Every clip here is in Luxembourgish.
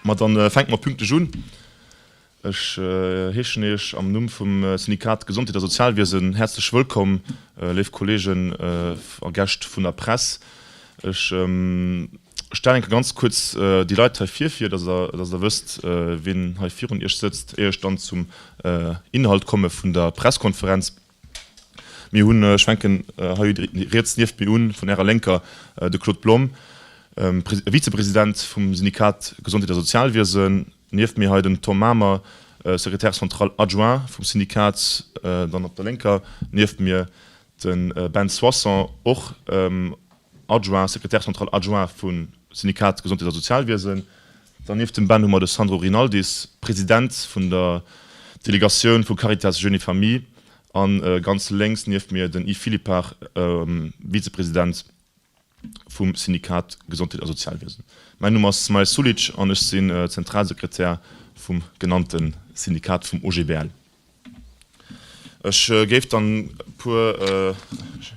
Ma dann fänken mer pünktlech un. Ech heeschen Iech am Numm vum Syndikat Gesondheet a Sozialwiesen häerzlech wëllkomm, léif Kollegen a Gäscht vun der Press. Ech stellen eng Kéier ganz kuerz déi Leit hei vir, fir dass Der wësst, wien hei virun Iech sëtzt, éier ech dann zum Inhalt komme vun der Presskonferenz. Mir hunn, ech fänken hei riets nieft mir un, vun Ärer Lénker de Claude Blom, Vizepresident vum Syndikat Gesondheet a Sozialwiesen, nieft mir hei den Tom Mamer, Secrétaire central adjoint vum Syndikat, dann op der Lénker nieft mir de Ben Soisson, och Adjoint, Secrétaire central adjoint vum Syndikat Gesondheet a Sozialwiesen, Dernieft dem Ben hu mer de Sandro Rinaldis, President vun der Delegatioun vu Caritas Jeunes et Familles, an ganz lénks nieft mir den Yves Philippart, Vizepresident vum Syndikat Gesondheet a Sozialwiesen. Mäin Numm ass Smail Sulic an ech sinn Zentralsekretär vum genannte Syndikat vum OGBL. Ech géif dann e puer, e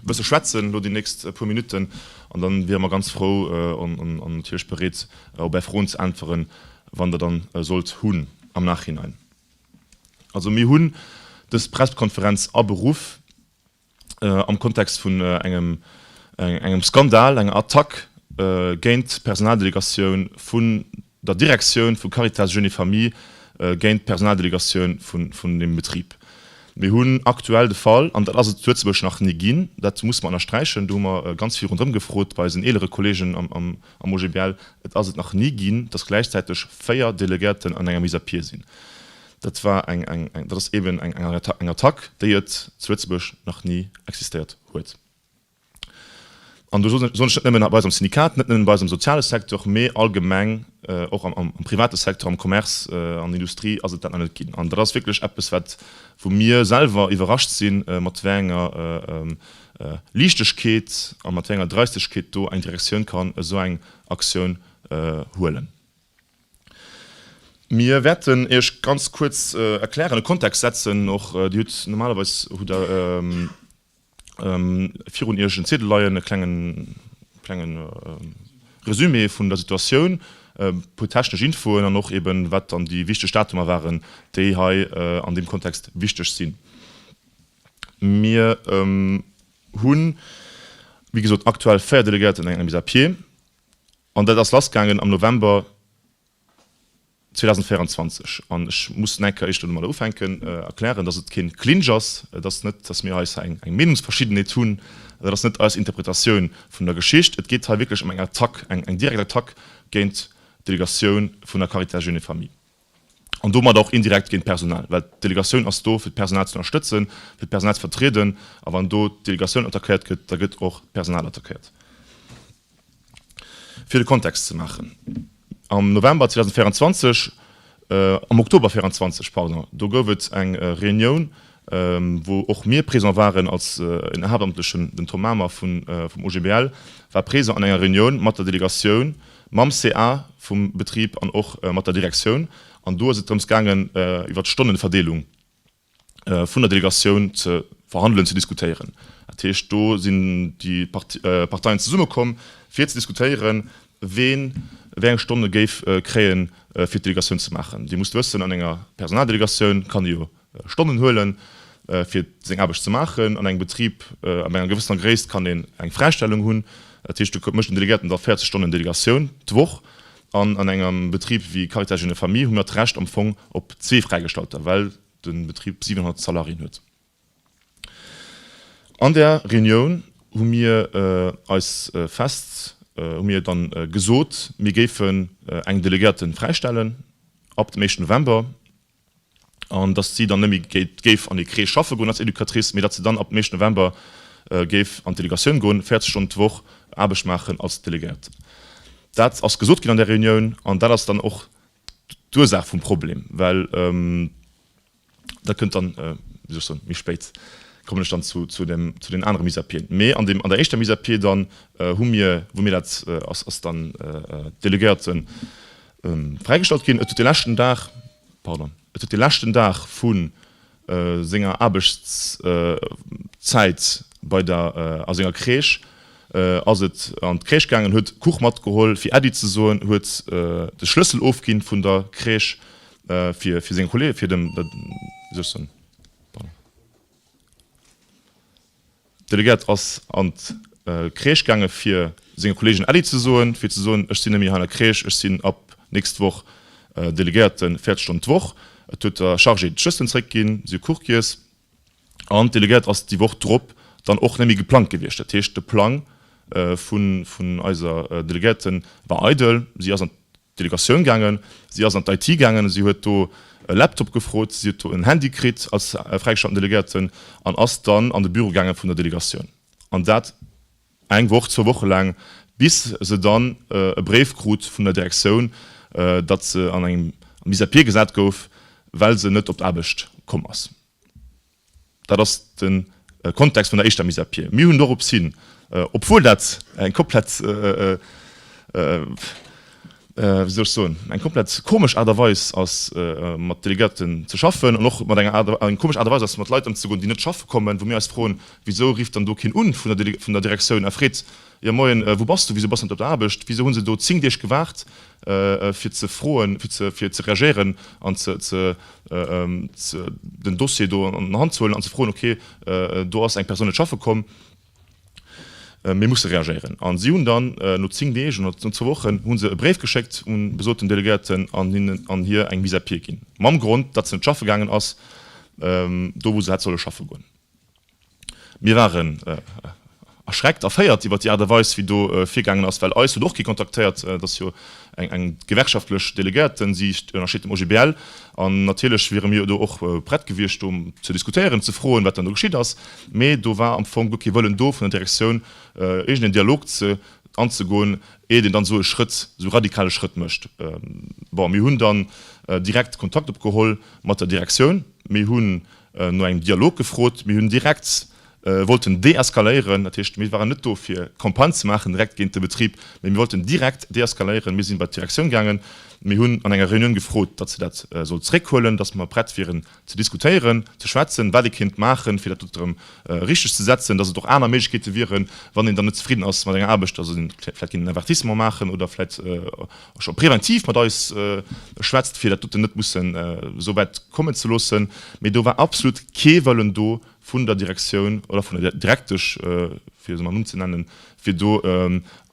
bësse schwätzen elo déi nächst puer Minutten an dann wiere mer ganz frou an natierlech bereet op Är Froen ze äntweren, wann Der dann sollt hunn am Nachhinein. Also mir hunn dës Presskonferenz aberuff, am Kontext vun engem engem Skandal, enger Attack géint d'Personaldelegatioun vun der Direktioun vu Caritas Jeunes et Familles géint d'Personaldelegatioun vun deem Betrib. Mir hunn aktuell de Fall, an dat ass et zu Lëtzebuerg nach ni ginn, dat muss mer ënnersträichen, do hu mer ganz vill ronderëm gefrot bei eisen eelere Kolleegen am OGBL, et ass et nach ni ginn, datt gläichzäiteg véier Delegéierten an enger Mise à pied sinn. Dat war eng, eng, eng, dat ass eben eng, eng Attack, eng Attack, déi et zu Lëtzebuerg nach ni existéiert huet. An do soen ech net nëmmen bei eis am Syndikat, net nëmmen bei eis am soziale Secteur, mee allgemeng och am, am private Secteur, am Commerce, an der Industrie ass et dat nach net ginn. An dat ass wierklech eppes, wat, wou mir selwer iwwerrascht sinn, mat wéi enger Liichtegkeet a mat wéi enger Dreistegkeet do eng Direktioun kann esou eng Aktioun huelen. Mir wäerten Iech ganz kuerz erklären, e Kontext setzen och. Dir hutt normalerweis, hutt Der virun Iech en Ziedel leien, e klengen, klenge Resumé vun der Situatioun, e puer technesch Infoen an och eben, wat dann déi wichteg Datumer waren, déi hei an deem Kontext wichteg sinn. Mir hunn, wéi gesot, aktuell véier Delegéierten an engem bis à pied. An dat ass lassgaangen am November 2024. An ech muss nach eng Kéier éischt do domadder ufänken, erklären, dass et keen Clinch ass. Et ass net, dass mir eis hei eng Meenungsverschiddenheet hunn. Dat ass net eis Interpretatioun vun der Geschicht. Et geet hei wierklech ëm eng Attack, eng direkt Attack géint d'Delegatioun vun der Caritas Jeunes et Familles. an domat och indirekt géint d'Personal, well d'Delegatioun ass do fir d'Personal ze ënnerstëtzen, fir d'Personal ze vertrieden, a wann do d'Delegatioun attackéiert gëtt, da gëtt och d'Personal attackéiert. Fir de Kontext ze maachen, Am November 2024, am Oktober 24, pardon, do gouf et eng Reunioun wou och mir présent waren als en Haaptamtlechen, den Tom Mamer vum OGBL war présent an enger Reunioun mat der Delegatioun, mam CA vum Betrib an och mat der Direktioun, an do ass et drëms gaangen iwwert d'Stonneverdeelung vun der Delegatioun ze verhandelen, ze diskutéieren. Dat heescht, do sinn déi Parteien zesummekomm fir ze diskutéieren, ween wéi eng Stonne géif kréie fir d'Delegatioun ze maachen. Dir musst wëssen, an enger Personaldelegatioun kann ee jo Stonnen huelen, fir seng Aarbecht ze maachen. An engem Betrib ab enger gewëssener Gréisst kann een eng Fräistellung hunn. Dat heescht, do mécht den Delegéierten da 40 Stonnen Delegatioun d'Woch. An an engem Betrib wéi Caritas Jeunes et Familles hu mir d'Recht am Fong op zwee Fräigestallter, well de Betrib 700 Salariéen huet. An där Reunioun hu mir eis fest, hu mir da gesot, mir géifen eng Delegéierte fräistellen ab dem éischten November. an datt si dann net méi géif an ee Crèche schaffe goen als Educatrice, mee datt se dann ab dem éischten November géif an d'Delegatioun goen, 40 Stonnen d'Woch Aarbecht maachen als Delegéiert. Dat ass gesot ginn an der Reunioun an dat ass dann och d'Ursaach vum Problem, well dat kënnt dann, wéi soll ech soen, méi spéit kommen ech dann zu den anere Mise à pieden. Mee an der éischter Mise à pied dann hu mir, wou mir dat, ass dann d'Delegéierten, Fräigestallt ginn. Et huet de leschten Dag, pardon, et huet de leschten Dag vu senger Aarbechtszäit bei der, a senger Crèche ass et an d'Crèche gaangen, huet Kuch matgeholl fir Äddi ze soen, huet de Schlëssel ofginn vun der Crèche fir fir seng Kollegen, fir dem, wéi soll ech soen, pardon. Delegert ass an d'Crèche gaange fir senge Kolleegen Äddi ze soen, fir ze soen, ech sinn net méi hei an der Crèche, ech sinn ab nächst Woch Delegéierte 40 Stonnen d'Woch. Et huet der Chargée d'Schësselen zeréck ginn, si hu Kuchgiess. An d'Delegéiert ass déi Woch drop dann och net méi geplangt gewiescht. Dat heescht de Plang vun eiser Delegéierte war eidel, si ass an Delegatioun gaangen, si ass an d'IT gaangen, si huet do e Laptop gefrot, si huet do en Handy kritt als fräigestatten Delegierten an ass dann an de Büro gaange vun der Delegatioun an dat eng Woch, zwou Woche laang, bis se dann e Bréif krut vun der Direktioun, datt se an engem Mis à pied gesat gouf, well se net op d'Aarbecht komm ass. Dat ass de Kontext vun der éischter Mise à pied. Mir hunn dorops hin, obwuel dat eng komplett, wéi soll ech soen, eng komplett komesch Aart a Weis ass mat Delegierten ze schaffen an och mat enger komescher Aart a Weis ass mat Leit ëmzegoen, déi net schaffe kommen, wou mir eis froen, Wisou rifft dann do keen un vun der Direktioun a freet, Jo moien, wou bass du? Wisou bass de net op der Aarbecht? Wisou hunn se do 10 Deeg gewaart fir ze froen, fir ze reagéieren an den Dossier do an der Hand ze huelen an ze froen, ok do ass eng Persoun net schaffe komm, mir musse reagéieren. A si hunn dann no 10 Deeg oder no zwou Wochen hu se e Bréif geschéckt un de besoten Delegéierten an hir eng Mise à pied ginn, mam Grond, datt se net schaffe gaangen ass do wou se hätt solle schaffe goen. Mir waren erschreckt, erféiert iwwert déi Aart a Weis, wéi do virgaangen ass, well eis huet och kee kontaktéiert. Et ass jo eng gewerkschaftlech Deleguerte, si ënnersteet dem OGBL, an natierlech wiere mir do och prett gewiescht, do ze diskutéieren, ze froen, wat dann do geschitt ass. Mee do war am Fong guer kee Wëllen do vun der Direktioun, iergendeen Dialog anzegoen, iert een dann esou e Schrëtt, esou radikale Schrëtt mécht. Bon, mir hunn dann direkt Kontakt opgeholl mat der Direktioun. Mir hu no engem Dialog gefrot. Mir hunn direkt wollten deeskaléieren, dat heescht, mir waren net do fir Campagne ze maachen direkt géint de Betrib, mä mir wollten direkt deeskaléieren. Mir si bei d'Direktioun gaangen, mir hunn an enger Reunioun gefrot, datt se dat soll zréckhuelen, datt mer prett wieren ze diskutéieren, ze schwätzen, wat ee kéint maachen, fir dat dot erëm richteg ze setzen, datt et och aner Méiglechkeete wieren, wann een dann net zefridden ass mat enger Aarbecht, datt ee vläicht géint en Avertissement maachen oder vläicht Scho preventiv mat eis schwätzt, fir dat doten net mussen esou wäit kommen ze loossen. Mee do war absolut kee Wëllen do vun der Direktioun oder vun der Direktesch, fir se mam Numm ze nennen, fir do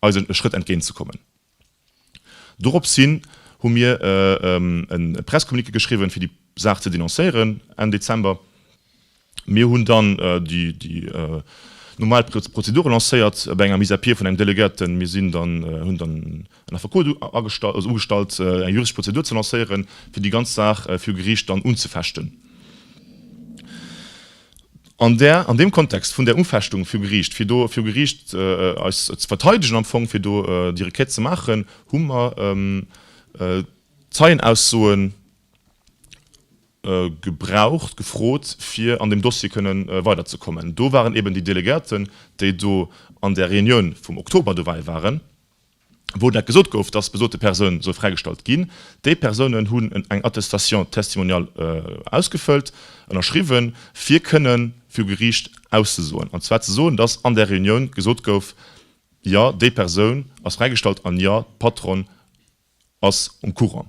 eis e Schrëtt entgéint ze kommen. Dorops hin hu mir e Pressecommuniqué geschriwwen, fir déi Saach ze denoncéieren Enn Dezember. Mir hunn dann déi normal Prozedure lancéiert bei enger Mise à pied vun engem Delegate. Mir hunn dann en Affekot ugestallt, eng juristesch Prozedur ze lancéieren, fir déi ganz Saach viru Geriicht dann unzefechten. An där, an deem Kontext vun där Unfechtung viru Geriicht, fir do viru Geriicht eis ze verteidegen am Fong, fir do déi Requête ze maachen, hu mer Zeienaussoen gebraucht, gefrot, fir an deem Dossier kënne weiderzekommen. Do waren eeben déi Delegierten, déi do an där Reunioun vum Oktober dobäi waren, wou dat gesot gouf, dass besote Persoun soll fräigestallt ginn. Déi Persounen hunn en eng Attestation testimoniale ausgefëllt, ënnerschriwwen, fir kënnen viru Geriicht auszesoen, an zwar ze soen, dass an där Reunioun gesot gouf, Jo, déi Persoun ass fräigestallt, an jo, d'Patron, ass um Courant.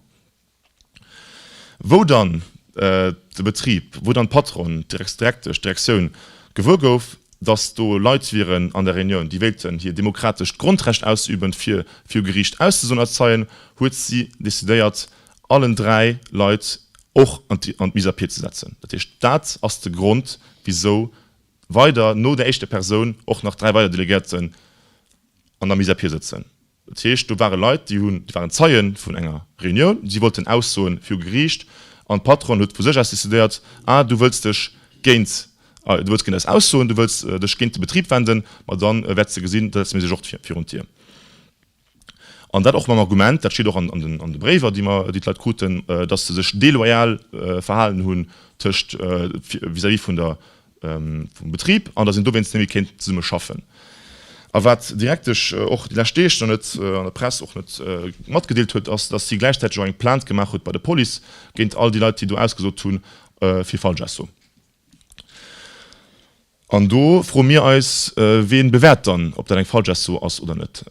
Wou dann de Betrib, wou dann d'Patronne, d'Direktesch, d'Direktioun gewuer gouf, datt do Leit wieren an der Reunioun, déi wéilten hir demokratescht Grondrecht ausüben, fir viru Geriicht auszesoen als Zeien, huet si decidéiert, allen dräi Leit och an d'Mise à pied ze setzen. Dat heescht, dat ass de Grond, wisou weider no där éischter Persoun och nach dräi weider Delegéierten an der Mise à pied sëtzen. Dat heescht, do ware Leit, déi hunn, déi waren Zeie vun enger Reunioun, si wollten aussoen viru Geriicht an d'Patronne huet vu sech aus decidéiert, ah du wëlls dech géint, du wëlls géint eis aussoen, du wëlls dech géint de Betrib wenden, ma da wäerts de gesinn, da setze mir sech och virun d'Dier. An dat och mam Argument, dat steet och an de Bréiwer, déi mer, déi d'Leit kruten, dass se sech deloyal verhalen hunn tëscht, vis-à-vis vun der, vum Betrib an datt een dowéinst méi kéint zesumme schaffen. A wat d'Direktesch och déi lescht Deeg nach net an der Press och net matgedeelt huet, ass, datt si gläichzäiteg och eng Plainte gemaach huet bei der Police géint all déi Leit, déi do ausgesot hu fir Falschausso. An do froe mir eis, Wee bewäert dann, ob dat eng Falschausso ass oder net?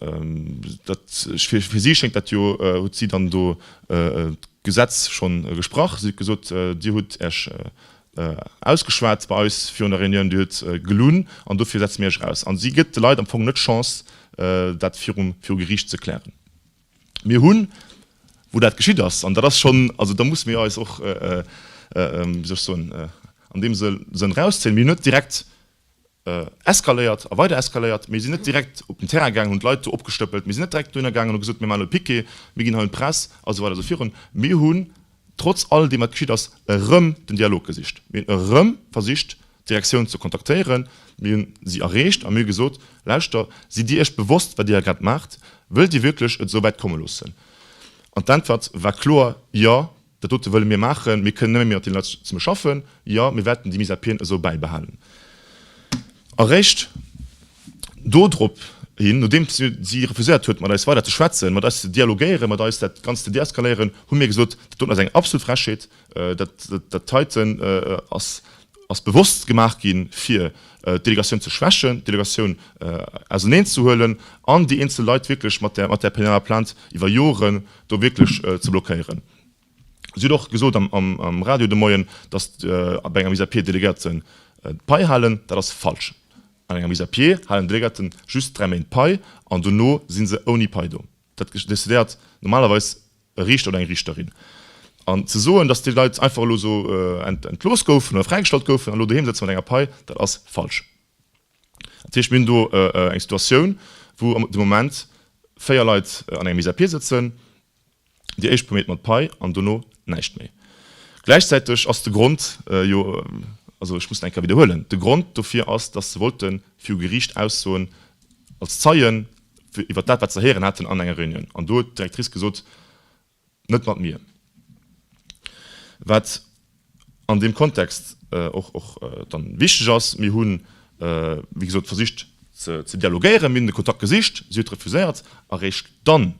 Dat, fir si schéngt dat jo, huet si dann do d'Gesetz schonn gesprach. Si huet gesot, Dir hutt Iech Ausgeschwat bei eis virun der Reunioun, Dir hutt gelunn an dofir setze mir Iech eraus. An si gëtt de Leit am Fong net d'Chance, dat viru Geriicht ze klären. Mir hunn, wou dat geschitt ass, an dat ass schonn, also da musse mir eis och, wéi soll ech soen, an deem Sënn erauszéien, mir hunn net direkt, eskaléiert a weider eskaléiert. Mir sinn net direkt op den Terrain gaangen, hunn d'Leit do opgestëppelt. Mir sinn net direkt dohinner gaangen an hu gesot, mir maachen elo Piquet, mir ginn hei un d'Press a sou weider a sou virun. Mir hunn trotz all deem, wat geschitt ass, erëm den Dialog gesicht. Mir hunn erëm versicht, d'Direktioun ze kontaktéieren. Mir hu si erreecht a mir hu gesot, Lauschter, sidd Dir Iech bewosst, wat Dir hei grad maacht? Wëllt Dir wierklech et esou wäit komme loossen? An d'Äntwert war kloer, Jo, Dat dote wëlle mir maachen. Mir kënnen nëmme méi mat deene Leit zesummen schaffen. Jo, mir wäerten déi Mise à pieden esou bäibehalen. A réischt dodrop hin, nodeem si refuséiert huet, mat eis weider ze schwätzen, mat eis ze dialogéieren, mat eis dat Ganzt ze deeskaléieren, hu mir gesot, Dat doten ass eng absolut Frechheet. Dat heiten ass bewosst gemaach ginn, fir d'Delegatioun ze schwächen, d'Delegatioun auserneenzehuelen an déi eenzel Leit wierklech mat där penaler Plainte iwwer Joren do wierklech ze blockéieren. Si huet och gesot am Radio de Moien, datt bei enger Mise à pied d'Deleguerte d'Pai halen. Dat ass falsch. An enger Mise à pied halen d'Deleguerte just dräi Méint Pai an dono si se ouni Pai do. Dat decidéiert normalerweis e Riichter oder eng Riichterin. An ze soen, datt déi Leit einfach elo esou entlooss goufen oder fräigestallt goufen an elo doheem sëtze mat enger Pai, dat ass falsch. Dat heescht, mir hunn do eng Situatioun, wou de Moment véier Leit an enger Mise à pied sëtzen, déi éischt Promille mat Pai an dono näischt méi. Gläichzäiteg ass de Grond jo, also ech muss et eng Kéier widderhuelen, de Grond dofir ass, datt se wollte viru Geriicht aussoen als Zeien iwwert dat, wat se héieren haten an enger Reunioun. An do huet d'Directrice gesot, Net mat mir. Wat an deem Kontext och dann wichteg ass, mir hunn, wéi gesot, versicht ze dialogéieren, mir hunn de Kontakt gesicht, si huet refuséiert a réischt dann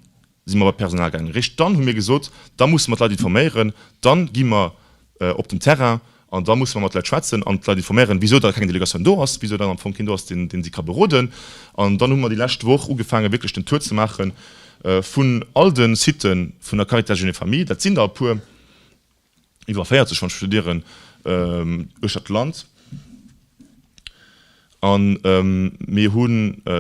si mer bei d'Personal gaangen, réischt dann hu mir gesot, da musse mer d'Leit informéieren, da gi mer op den Terrain an da musse mer mat de Leit schwätzen an d'Leit informéieren, wisou da keng Delegatioun do ass, wisou dann am Fong keen do ass, deen si ka beroden. An dann hu mer déi lescht Woch ugefaange wierklech den Tour ze maache vun all de Site vun der Caritas Jeunes et Familles, dat sinn der e puer, iwwer 40 wann ech recht lieren, uechter d'Land. A mir hu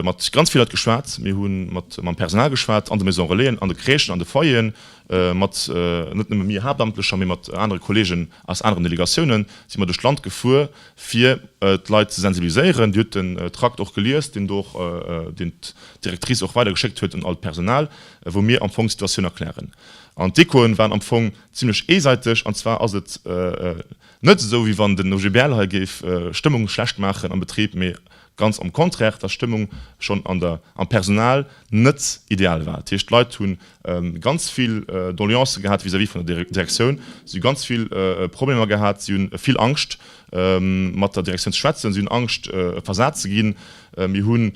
mat ganz vill Leit geschwat. Mir hu mat mam Personal geschwat an de Maison Relaisen, an de Crèchen, an de Foyeren, mat net nëmme mir Haaptamtlecher, mee mat anere Kolleegen aus aneren Delegatiounen si mer duerch d'Land gefuer, fir d'Leit ze sensibiliséieren. Dir hutt den Trakt och gelies, deen do och, deen d'Directrice och weider geschéckt huet un all d'Personal, wou mir am Fong d'Situatioun erklären. An d'Echoen waren am Fong zimlech eesäiteg, an zwar ass et, Net esou wéi wann den OGBL hei géif Stëmmung schlecht maachen am Betrib, mee ganz am Contraire, dass Stëmmung schonn an der, am Personal net ideal war. Dat heescht, d'Leit hu ganz vill Doleancë gehat vis-à-vis vun der Direktioun, si hu ganz vill Problemer gehat, si hu vill Angscht mat der Direktioun ze schwätzen, si hunn Angscht versat ze ginn. Mir hunn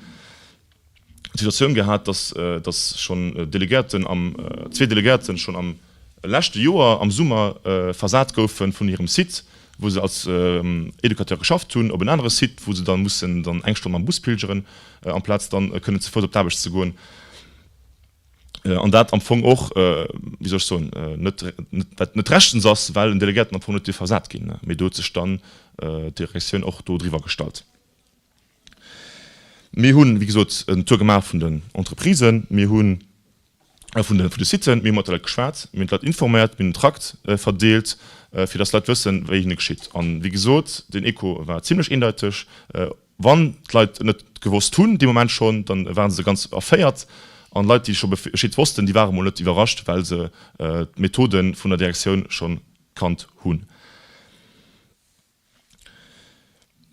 d'Situatioun gehat, dass, dass schonn Delegierten am, zwee Delegierten schonn am leschte Joer am Summer versat goufen vun hirem Site, wou se als Educateur geschafft hunn, op en anere Site, wou se dann mussen dann eng Stonn mam Bus pilgeren, amplaz dann kënnen ze Fouss op d'Aarbecht ze goen. An dat am Fong och, wéi soll ech soen, net, wat net rechtens ass, well en Delegierten am Fong net dierf versat ginn. Mee do huet sech dann d'Direktioun och do driwwer gestallt. Mir hunn, wéi gesot, en Tour gemaach vun den Entreprisen, mir hunn vun de, vun de Siten, mir hu mat de Leit geschwat, mir hunn d'Leit informéiert, mir hunn en Trakt verdeelt, fir dass d'Leit wëssen, wéi hinne geschitt. An, wéi gesot, den Echo war zimlech eendeiteg. Wann d'Leit et net gewosst hunn dee Moment schonn, da ware se ganz erféiert. An Leit, déi scho Bescheed wossten, déi ware mol net iwwerrascht, well se d'Methode vun der Direktioun schonn kannt hunn.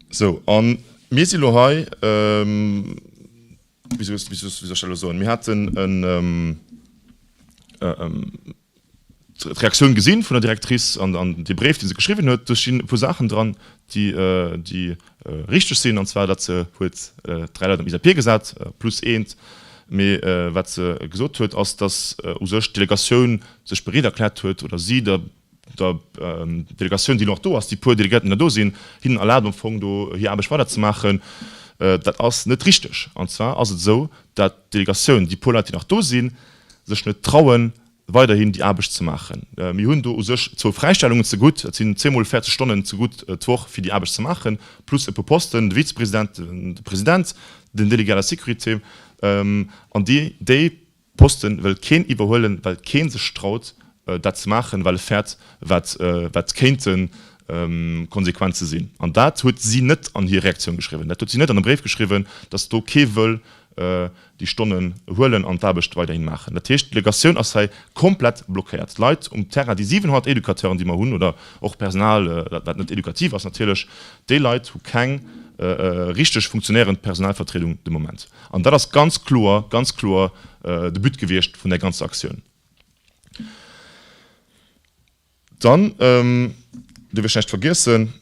Sou, a mir si lo hei. Wéi soll ech dat elo soen? Mir haten d'Reaktioun gesinn vun der Directrice an dee Bréif, dee se geschriwwen huet. Do stinn e puer Saachen dran, déi richteg sinn, an zwar datt se huet dräi Leit am ISAPIR gesat plus eent. Mee wat se gesot huet, ass, datt u sech d'Delegatioun sech bereet erkläert huet, oder si der der Delegatioun, déi elo nach do ass, déi puer Delegéierten, déi nach do sinn, hinnen erlaabt am Fong do hir Aarbecht weiderzemaachen. Dat ass net richteg. An zwar ass et esou, datt d'Delegatioun, déi puer Leit, déi nach do sinn, sech net trauen, weiderhin déi Aarbecht ze maachen. Mir hunn do u sech zwou Fräistellungen zegutt, dat sinn zweemol 40 Stonnen zegutt d'Woch, fir déi Aarbecht ze maachen, plus e puer Posten, de Vizepresident, de President, den Délégué à la sécurité. An déi Posten wëll keen iwwerhuelen, well keen sech traut dat ze maachen, well e fäert wat wat kéinte Konsequenze sinn. An dat huet si net an hir Reaktioun geschriwwen, dat huet si net an e Bréif geschriwwen, datt do kee wëll déi Stonnen huelen an d'Aarbecht weiderhin maachen. Dat heescht, d'Delegatioun ass hei komplett blockéiert. D'Leit um Terrain, déi 700 Educateuren déi mer hunn, oder och Personal wat net edukativ ass natierlech, déi Leit hu keng richteg funktionéierend Personalvertriedung de Moment. An dat ass ganz kloer, ganz kloer de But gewiescht vun där ganzer Aktioun. Dann, duerf ech näischt vergiessen,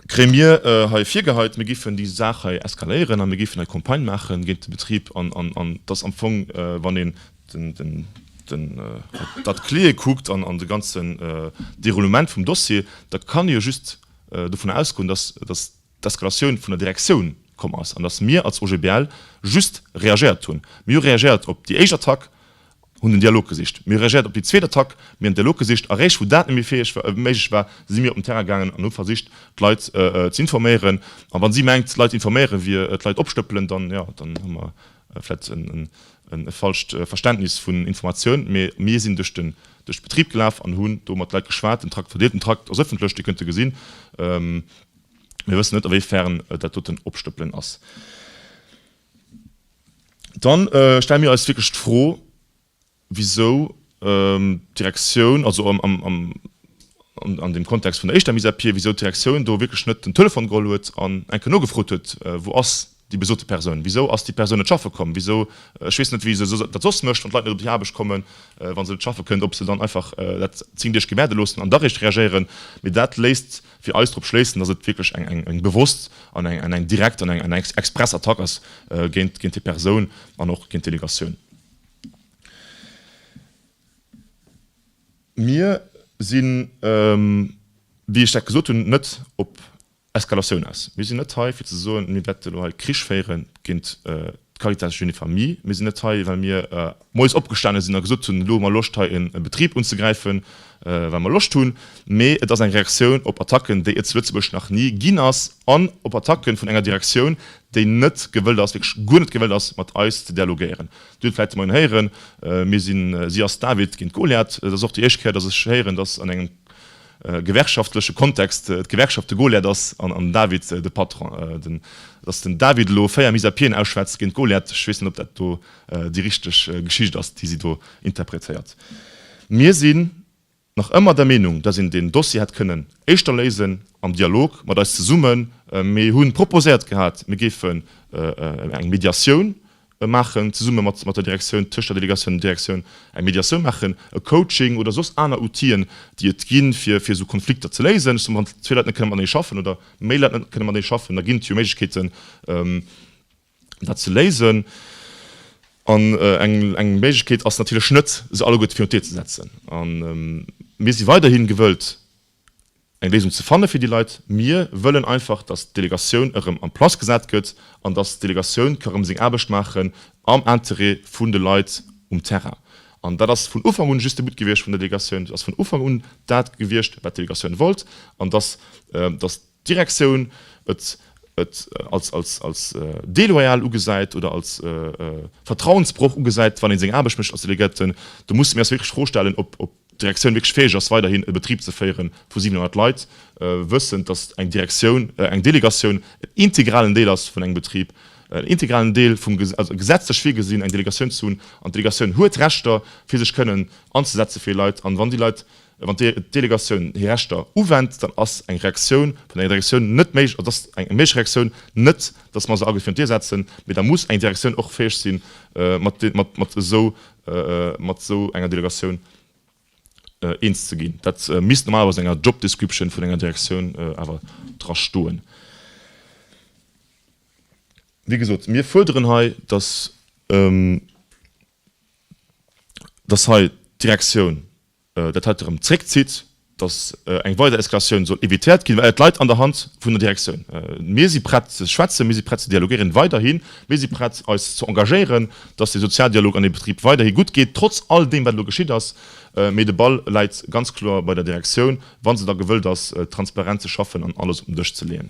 kréie mir hei virgeheit, mir géifen déi Saach hei eskaléieren a mir géifen hei Campagne maache géint de Betrib an dat ass am Fong, wann een dat Kleeë kuckt an de ganzen Déroulement vum Dossier, da kann ee jo just dovun ausgoen, dass d'Eskalatioun vun der Direktioun komm ass an datt mir als OGBL just reagéiert hunn. Mir hu reagéiert op déi éischt Attack, hunn den Dialog gesicht. Mir hu reagéiert op déi zweet Attack, mir hunn den Dialog gesicht. A réischt wou dat net méi fäeg war, méiglech war, si mir op den Terrain gaangen an hu versicht, d'Leit ze informéieren. A wa si mengt, d'Leit informéiere wier d'Leit opstëppelen, dann, jo, dann hu mer vläicht e falscht Verständnis vun Informatioun. Mee mir sinn duerch den Betrib gelaf an hunn do mat de Leit geschwat. Den Trakt, verdeelt den Trakt, ass ëffentlech, Dir kënnt e gesinn. Mir wëssen net, awéifern et dat doten Opstëppelen ass. Dann stelle mir eis wierklech d'Fro, wisou d'Direktioun, also an deem Kontext vun der éischter Mise à pied, wisou d'Direktioun do wierklech net den Telefon geholl huet an enke nogefrot huet, Wou ass déi besote Persoun, wisou ass déi Persoun net schaffe komm, wisou, ech weess net wéi se dat soss mécht, wann d'Leit net op déi Aarbecht kommen, wa se net schaffe kënnen, ob se dann einfach dat 10 Deeg gewäerde loossen an da réischt reagéieren. Mee dat léisst fir eis drop schléissen, datt et wierklech eng bewosst an eng direkt an eng express Attack ass géint déi Persoun an och géint d'Delegatioun. Mir sinn, wéi ech dat gesot hunn, net op Eskalatioun ass. Mir sinn net hei fir ze soen, mir wäerten elo hei Krich féiere géint d'Caritas Jeunes et Familles. Mir sinn net hei well mir moies opgestane sinn a gesot hunn, elo hu mer Loscht hei e Betrib unzegräifen, well mer Loscht hunn, mee et ass eng Reaktioun op Attacken, déi et zu Lëtzebuerg nach ni ginn ass an op Attacke vun enger Direktioun, déi net gewëllt ass, wierklech guer net gewëllt ass mat eis ze dialogéieren. Dir hutt vläicht de Moien héieren, mir sinn, si ass David géint Goliath. Et ass och déi éischt Kéier, datt ech héieren, datt an engem. Gewerkschaftleche Kontext, D'Gewerkschaft de Goliath ass an den David de Patron. Datt den David elo véier mise à pieden ausschwätzt géint Goliath, ech weess net ob dat do déi richteg Geschicht ass déi si do interpretéiert. Mir sinn nach ëmmer der Meenung, datt een deen Dossier hätt kënnen éischter léisen am Dialog mat eis zesummen. Mir hu proposéiert gehat, mir géifen eng Mediatioun E maachen, zesumme mat mat der Direktioun, tëscht der Delegatioun an der Direktioun, eng Mediatioun maachen, e Coaching oder soss aner Outien, déi et ginn, fir fir esou Konflikter ze léisen. Ech soe, wann zwee Leit net kënne matenee schaffen oder méi Leit net kënne matenee schaffen, da ginn et jo Méiglechkeeten, dat ze léisen. An eng eng Méiglechkeet ass natierlech net, se alleguerte virun d'Dier ze setzen. A mir si weiderhi gewëllt, eng Léisung ze fanne fir déi Leit. Mir wëllen einfach, dass d'Delegatioun erëm en place gesat gëtt an dass d'Delegatioun ka rëm seng Aarbecht maachen am Interêt vun de Leit um Terrain. An dat ass vun Ufank un just de But gewiescht vun der Delegatioun. Dat ass vun Ufank un dat gewiescht, wat d'Delegatioun wollt, an dass, dass d'Direktioun et, et als, als, als deloyal ugesäit oder als Vertrauensbroch ugesäit, wann ee seng Aarbecht mécht als Delegierten. Do musse mir eis wierklech d'Fro stellen, ob, ob. d'Direktioun wierklech fäeg ass, weiderhin e Betrib ze féiere vu 700 Leit, wëssend, datt eng Direktioun, eng Delegatioun en integralen Deel ass vun engem Betrib, en integralen Deel vum, also gesetzlech virgesinn, eng Delegatioun ze hunn. An d'Delegatioun huet Rechter, fir sech kënnen anzesetze fir Leit. An wann déi Leit, wann d'Delegatioun hir Rechter uwennt, dann ass eng Reaktioun vun enger Direktioun net méiglech, also ass eng méiglech Reaktioun net, datt mer se ageféiert duerchsetzen, mee da muss eng Direktioun och fäeg sinn, mat esou mat esou enger Delegatioun eens ze ginn. Dat misst normalerweis an enger Job Description vun enger Direktioun awer dra stoen. Wéi gesot, mir fuerderen hei, dass hei d'Direktioun, dat haut erëm zréckzitt, datt eng weider Eskalatioun soll evitéiert ginn, well et leit an der Hand vun der Direktioun. Mir si prett ze schwätzen, mir si prett ze dialogéieren weiderhin, mir si prett eis ze engagéieren, datt de Sozialdialog an deem Betrib weiderhi gutt geet, trotz all deem wat elo geschitt ass, mee de Ball läit ganz kloer bei der Direktioun, wa se da gewëllt ass transparent ze schaffen an alles op den Dësch ze leeën.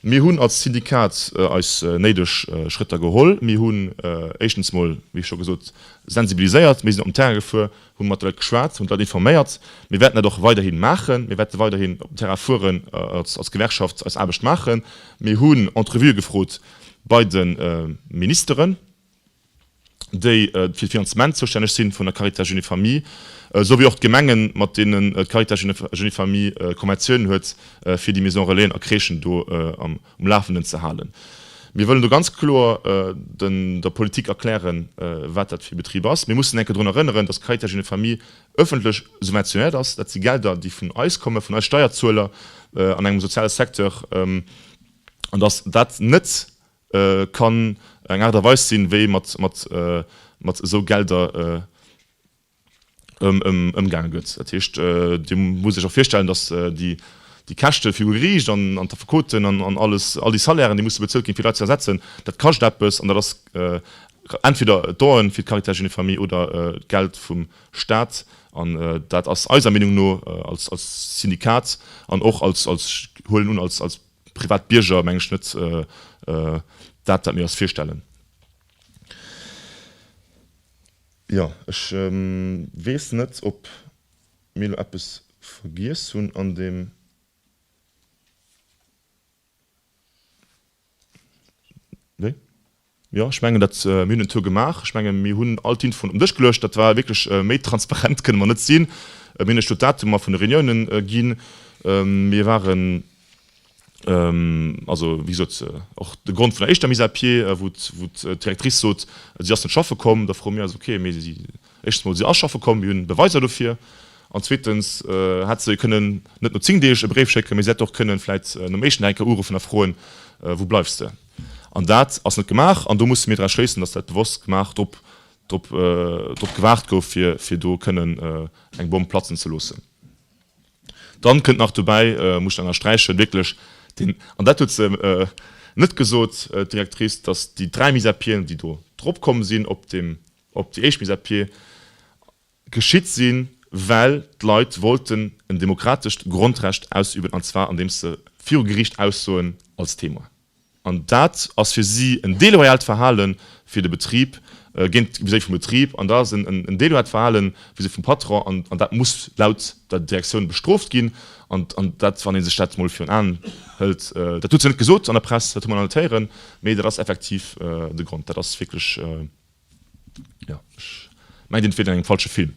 Mir hunn als Syndikat eis néideg Schrëtter geholl, mir hunn éischtens mol, wéi scho gesot, sensibiliséiert, mir sinn op den Terrain gefuer, Hu mat de Leit geschwat, hunn d'Leit informéiert. Mir wäerten dat och weiderhi maachen. Mir wäerte weiderhin op den Terrain fueren, als Gewerkschaft eis Aarbecht maachen. Mir hunn Entrevuë gefrot bei de Ministeren, déi fir d'Finanzement zoustänneg si vun der Caritas Jeunes et Familles, esou wéi och d'Gemengen, mat deenen d'Caritas Jeunes et Familles Konventioun huet, fir déi Maison-relaisen a Crèchen do am. um Lafenden ze halen. Mir wëllen do ganz kloer der Politik erklären, wat dat fir e Betrib ass. Mir mussen enke drun erënneren, dass d'Caritas Jeunes et Familles ëffentlech subventionéiert ass. Dat si Gelder, déi vun eis kommen, vun eis Steierzueler an engem soziale Secteur, an dass dat net kann eng Aart a Weis sinn, wéi mat esou Gelder ëmgaange gëtt. Dat heescht, Dir musst Iech och virstellen, datt déi Käschte fir u Geriicht an d'Affekoten an alles, all déi Salairen, déi musse bezuelt ginn, fir Leit ze ersetzen, dat kascht eppes an dat ass entweder d'Done fir d'Caritas Jeunes et Familles oder d'Geld vum Staat. An dat ass eiser Meenung no als Syndikat an och als, huelen un, als privat Bierger, meng ech, net dat, wat mir eis virstellen. Jo, ech weess net, ob mir elo eppes vergiess hunn an deem Wéi? Jo, ech mengen dat, mir hunn en Tour gemaach. Ech menge mir hunn all d'Infoen op den Dësch geluecht. Dat war wierklech, méi transparent kënne mer net sinn. Mir hunn iech do d'Datumer vun de Reuniounen ginn. Mir waren Also, wéi gesot, och de Grond vun der éischter Mise à pied, wou d'Directrice sot, si ass net schaffe komm, da froe mir eis, okay, mee éischtens emol, si ass schaffe komm, mir hunn Beweiser dofir, an zweetens hätt se kënnen net no zéng Deeg e Bréif schécken, mee se hätt och kënnen vläicht nom éischten Dag enk Kéier uruffen a froen, Wou bleifs de? An dat ass net gemaach an do musse mir draus schléissen, datt dat bewosst gemaach, drop gewaart gouf, fir do kënnen eng Bomm platzen ze loossen. Dann kënnt nach dobäi, muss ech ennersträichen, wierklech den, an dat huet se net gesot, d'Directrice, dass déi dräi Mise à pieden, déi do drop komm sinn op deem, op déi éischt Mise à pied, geschitt sinn, well d'Leit wollten en demokratescht Grondrecht ausüben, an zwar andeems se viru Gericht aussoen als Témoin. An dat ass fir si en deloyalt Verhale fir de Betrib, géint, vis-à-vis vum Betrib, an dat ass en deloyalt Verhale vis-à-vis vum Patron an dat muss laut der Direktioun bestrooft ginn. An dat, wann ee sech dat mol virun Aen hëlt, dat huet se net gesot an der Press, dat hu mer an alle Téieren, mee dat ass effektiv de Grond. Dat ass wierklech. Jo ech mengen den fiert an engem falsche Film.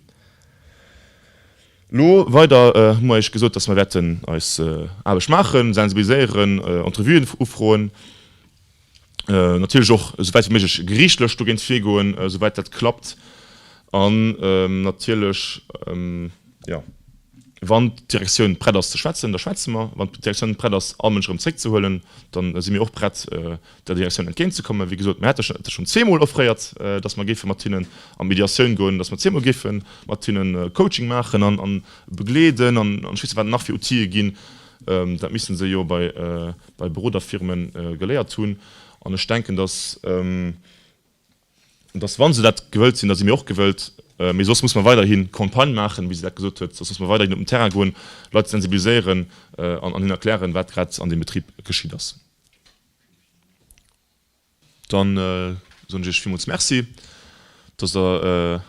Lo weider hu mer iech gesot dass mer wäerten eis Aarbecht maachen, sensibiliséieren, Entrevuen ufroen, natierlech och esouwäit wéi méiglech geriichtlech dogéint virgoen esouwäit dat klappt an natierlech jo. Wann d'Direktioun prett ass ze schwätzen, da schwätze mer. Wann d'Direktioun prett ass, all Mënsch erëm zréckzehuelen, da si mir och prett der Direktioun entgéintzekommen. Wéi gesot, mir hätte schonn zweemol offréiert, dass mer géife mat hinnen a Mediatioun goen, dass mer zweemol géife mat hinne Coaching maachen a begleeden an ech weess net, wat et nach fir Outile ginn. Dat misste se jo bei Beroderfirme geléiert hunn an ech denken, dass. Dass, wa se dat gewëllt sinn, da si mir och gewëllt, mee soss musse mer weiderhi Campagne maachen, wéi se dat gesot huet, soss musse mer weiderhin op den Terrain goen, d'Leit sensibiliséieren an hinnen erklären, wat grad an deem Betrib geschitt ass. Dann soen ech Iech villmools Merci, dass Der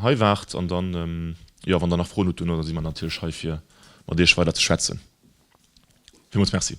hei waart an dann, jo, wann Der nach Froen hutt, duerno si mer natierlech hei, fir mat Iech weider ze schwätzen. Villmools Merci.